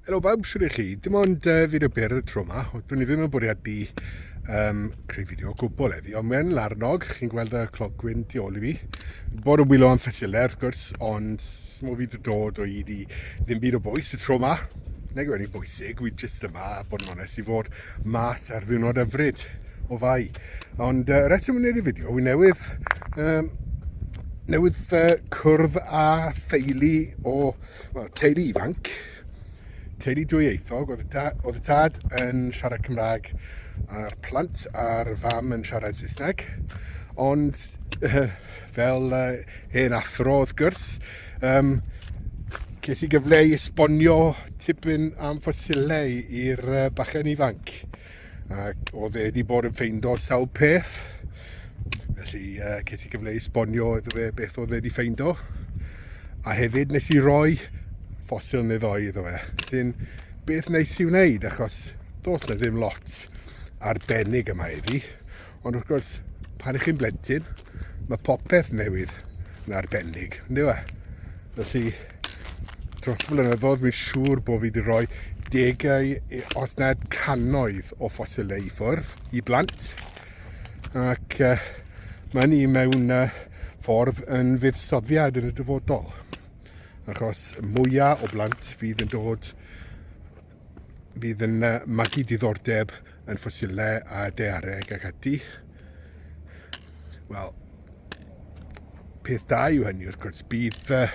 Helo bawb, sy'n eich chi? Dim ond uh, fyd y byr y tro yma, dwi'n i ddim yn bwriad i um, creu fideo o gwbl eddi, ond mae'n larnog, chi'n gweld y clogwyn tu ôl i fi. Bod yn wylo am ffesilau, wrth gwrs, ond mo fi dod o hyd i ddim byd o bwys y tro yma. Neu gwneud bwysig, wy jyst yma, bod yn onest, i fod mas ar ddynod yfryd o fai. Ond uh, reswm yn gwneud y fideo, wy newydd, um, newydd uh, cwrdd a theulu o Wel, teulu ifanc, teulu dwyieithog, oedd y, da, oedd y tad yn siarad Cymraeg a'r plant a'r fam yn siarad Saesneg. Ond uh, fel uh, hen athro wrth gwrs, um, ces i gyfle i esbonio tipyn am ffosilau i'r uh, bachen ifanc. ac oedd e wedi bod yn ffeindo sawl peth. Felly uh, ces i gyfle i sbonio iddo fe beth oedd e wedi ffeindo. A hefyd nes i roi ffosil neu ddoi iddo fe. Sy'n beth neis i wneud achos dos na ddim lot arbennig yma iddi. Ond wrth gwrs, pan ych chi'n blentyn, mae popeth newydd yn arbennig, yn dweud? E? Felly, dros blynyddoedd, mi'n siŵr bod fi wedi rhoi degau, os nad cannoedd o ffosilau i ffwrdd i blant. Ac uh, mae ni mewn uh, ffordd yn fuddsoddiad yn y dyfodol. Achos mwyaf o blant fydd yn dod fydd yn uh, magu diddordeb yn ffosilau a deareg ac ati. Wel, peth da yw hynny wrth gwrs, bydd uh,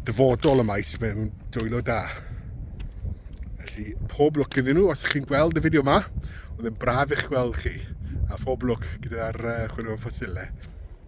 dyfodol y maes mewn dwylo da. Felly, pob lwc iddyn nhw, os chi'n gweld y fideo yma, oedd yn braf eich gweld chi, a phob lwc gyda'r uh, chwilio ffosilau.